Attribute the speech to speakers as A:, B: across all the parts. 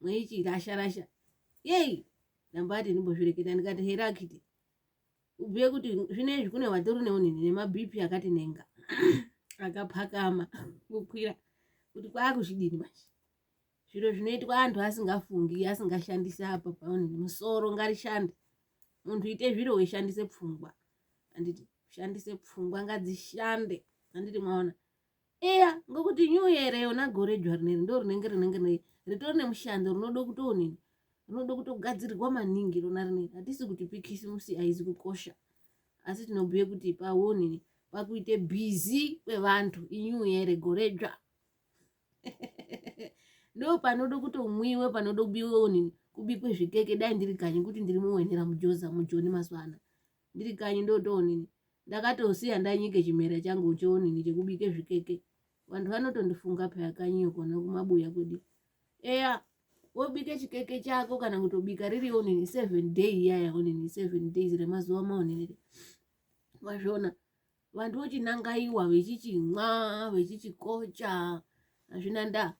A: mwechichirasha rasha yei ndambati ndimbozvireketa ndikati here akiti ubhuye kuti zvino izvi kune vatori neunini nemabp akati nenga akapakama kukwira kuti kwaakuzvidini manje zviro zvinoitwa antu asingafungi asingashandisi apa paunini musoro ngarishande munhu ite zviro weishandise pfungwa anditi ushandise pfungwa ngadzishande anditi mwaona eya ngokuti new year yona gore dzva rineri ndo rinenge rinenge ritori nemushando rinoda kutoonini rinoda kutogadzirirwa maningi rona rineri hatisi kuti pikisimusi haizi kukosha asi tinobhuye kuti pawonini pakuite busy kwevantu inew year gore dzva ndo panoda kutomwiwe panoda kubiwe onini kubikwe zvikeke dai ndiri kanyi kuti ndiri muwenera mujoza mujoni mazuva ano ndiri kanyi ndotoonini ndakatosiya ndanyike chimera changu choonini chekubike zvikeke vantu vanotondifunga peya kanyiyo kona kumabuya kudi eya wobike chikeke chako kana kutobika riri onini seven day iyaya onini seven days remazuva maonini wazviona vantu vochinangaiwa vechichimwa vechichikocha hazvina ndaa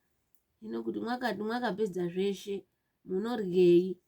A: ino kuti mwakapedza zveshe munoryei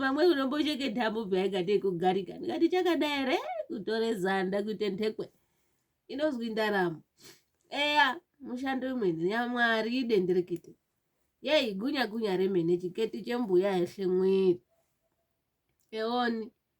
A: vamwe unombocheke dhamu bvaingatei kugarika ndikati chakadai here kutore zanda kuite ndhekwe inozwi ndaramo eya mushando imweni yamwari idenderekete yei gunya gunya remene chiketi chembuya heshe mwiri eoni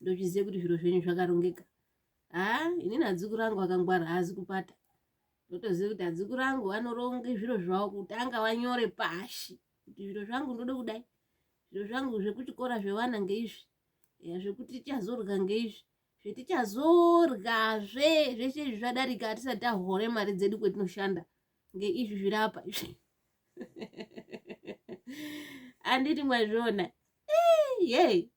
A: ndochiziva kuti zviro zvenyu zvakarongeka haa inini adzukuru angu akangwara haazi kupata ndotoziva kuti adzukuru angu anoronga zviro zvavo kutanga vanyore pashi kuti zviro zvangu ndode kudai zviro zvangu zvekuchikora zvevana ngeizvi ya zvekuti tichazorya ngeizvi zvetichazoryazve zvese izvi zvadarika hatisati tahore mari dzedu kwetinoshanda ngeizvi zviri apa izvi anditi mwazviona yey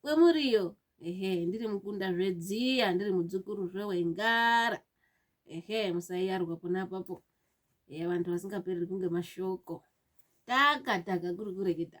A: kwemuriyo ehe ndiri mukunda zvedziya ndiri mudzukuru zvewengara ehe musaiyarwa pona papo ehe vantu vasingapereri kunge mashoko taka taka kuri kureketa